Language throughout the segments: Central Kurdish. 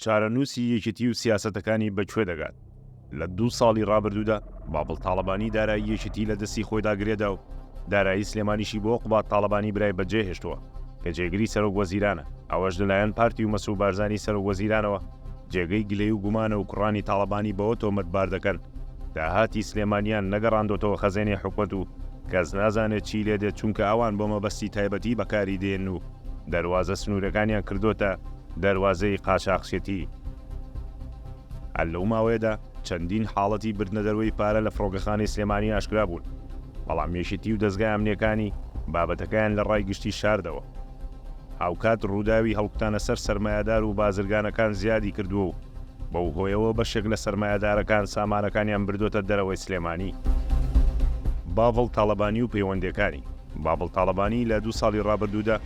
چارەنووسی یەکێتی و سیاسەتەکانی بە کوێ دەگات؟ لە دوو ساڵی ڕابردوودا بابڵ تاڵەبانی دارایی یەکێتی لە دەستی خۆیدا گرێدا و دارایی سلێمانیشی بۆ قوباد تاڵەبانی برای بەجێهێشتووە کە جێگری سەرۆک وەزیرانە، ئەوەش لەلایەن پارتی و مەسرور بارزانی سەرۆک وەزیرانەوە جێگەی گلەی و گومانە و کوڕانی تاڵەبانی بەوە تۆمەتبار دەکەن داهاتی سلێمانیان نەگەڕاندۆتەوە خەزێنەی حکومەت و کەس نازانێت چی لێدێت چونکە ئەوان بۆ مەبەستی تایبەتی بەکاری دێن و دەروازە سنورەکانیان کردۆتە دەروازەی قاچاخچێتی. هەر لەو ماوەیەدا چەندین حاڵەتی بردنە دەروەی پارە لە فڕۆکەخانەی سلێمانی ئاشکرا بوون، بەڵام یەکێتی و دەزگا ئەمنیەکانی بابەتەکەیان لە ڕای گشتی شاردەوە. هاوکات ڕوداوی هەڵکوتانە سەر سەرمایەدار و بازرگانەکان زیادی کردوە و بەو هۆیەوە بەشێک لە سەرمایەدارەکان سامانەکانیان بردۆتە دەرەوەی سلێمانی. باڤڵ تاڵەبانی و پەیوەندەکانی. بابڵ تاڵەبانی لە دوو ساڵی ڕابردوودا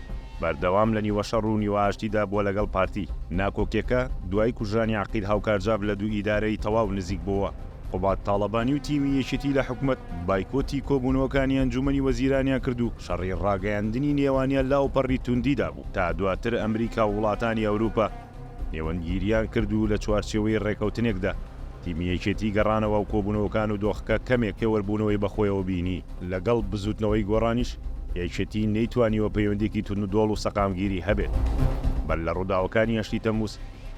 بەردەوام لە نیوەشەڕ و نیوەئاشتیدا بووە لەگەڵ پارتی ناکۆکیەکە، دوای کوژرانی عەقید هاوکارجاف لە دوو ئیدارەی تەواو نزیک بۆوە. قوباد تاڵەبانی و تیمی یەکێتی لە حکومەت بایکۆتی کۆبوونەوەکانی ئەنجومەنی وەزیرانیان کرد و شەڕی ڕاگەیاندنی نێوانیان لە ئەوپەڕی توندیدا بوو تا دواتر ئەمریکا و وڵاتانی ئەوروپا نێوەندگیریان کرد و لە چوارچێوەی رێکەوتنێکدا تیمی یەکێتی گەڕانەوە و کۆبوونەوەکان و دۆخەکە کەمێک پێوەربوونەوەی بەخۆیەوە بینی. لەگەڵ بزووتنەوەی گۆڕانیش یەکێتی نەیتوانیوە پەیوەندییەکی توندوتۆڵ و سەقامگیری هەبێت. بەر لە رووداوەکانی هەشتی تەمموز،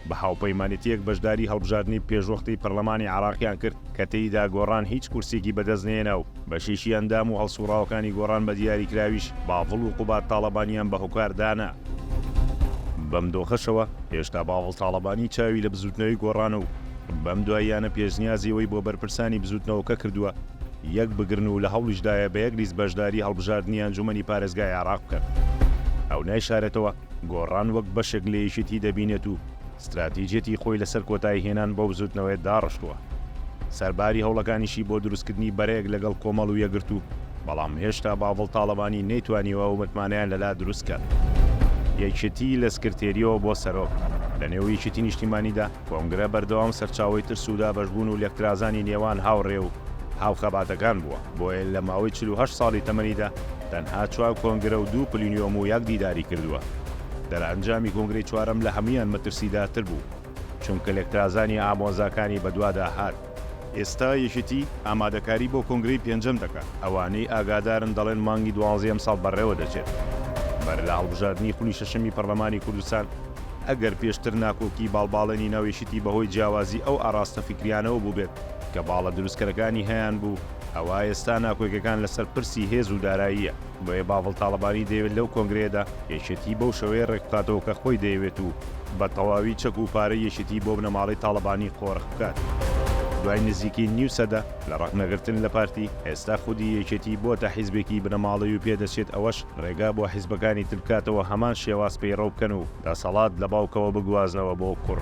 بە هاوپەیمانێتییەک بەشداری هەڵبژاردنی پێشوەختەی پەرلەمانی عێراقیان کرد کە تێیدا گۆڕان هیچ کورسییەکی بەدەستنەهێنا و، بەشێکی ئەندام و هەڵسوڕاوەکانی گۆڕان بە دیاریکراویش باڤڵ و قوباد تاڵەبانیان بە هۆکار دانا. بەم دۆخەشەوە هێشتا باڤڵ تاڵەبانی چاوی لە بزووتنەوەی گۆڕانە و بەم دواییانە پێشنیازی ئەوەی بۆ بەرپرسانی بزووتنەوەکە کردووە یەک بگرن و لە هەوڵیشدایە بە یەک لیست بەشداری هەڵبژاردنی ئەنجوومەنی پارێزگای عێراق بکەن. ئەو نایشارێتەوە گۆڕان وەک بەشێک لە یەکێتی دەبینێت و، ستراتیجیەتی خۆی لەسەر کۆتایی هێنان بەو بزوتنەوەیە داڕشتوە، سەرباری هەوڵەکانیشی بۆ دروستکردنی بەرەیەک لەگەڵ کۆمەڵ و یەکگرتو، بەڵام هێشتا باڤڵ تاڵەبانی نەیتوانیوە ئەو متمانەیان لەلا دروست کات. یەکێتی لە سکرتێریەوە بۆ سەرۆک، لە نێو یەکێتی نیشتیمانیدا، کۆنگرە بەردەوام سەرچاوەی ترس و دابەشبون و لێکترازانی نێوان هاوڕێ و هاوخەباتەکان بوە. بۆیە لە ماوەی چل و هەشت ساڵی تەمەنیدا تەنها چوار کۆنگرە و دوو پلینیۆم و یەک دیداری کردووە. دەرئەنجامی کۆنگرەی چوارەم لە هەموویان مەترسیدارتر بوو، چونکە لێکترازانی ئامۆزاکانی بەدوادا هات. ئێستا یەکێتی ئامادەکاری بۆ کۆنگرەی پێنجەم دەکات، ئەوانەی ئاگادارن دەڵێن مانگی دوانزەی ئەمساڵ بەڕێوەدەچێت. بەرلە هەڵبژاردنی خولی شەشەمی پەرلەمانی کوردستان، ئەگەر پێشتر ناکۆکیی باڵباڵێنی ناو یەکێتی بەهۆی جیاوازی ئەو ئاڕاستە فیکرییانەوە بووبێت، کە باڵە دروستکەرەکانی هەیان بوو، ئەوا ئێستا ناکۆیکەکان لەسەر پرسی هێز و داراییە، بۆیە باڤڵ تاڵەبانی دەیەوێت لەو کۆنگرەیەدا یەکێتی بەو شێوەیە رێکبخاتەوە کە خۆی دەیەوێت و بە تەواوی چەک و پارەی یەکێتی بۆ بنەماڵەی تاڵەبانی قۆرخ بکات. دوای نزیکەی نیو سەدە لە رەخنەگرتن لە پارتی، ئێستا خودی یەکێتی بۆتە حیزبێکی بنەماڵەی و پێدەچێت ئەوەش رێگا بۆ حیزبەکانی تر بکاتەوە هەمان شێواز پەیڕەو بکەن و دەسەڵات لە باوکەوە بگوازنەوە بۆ کوڕ.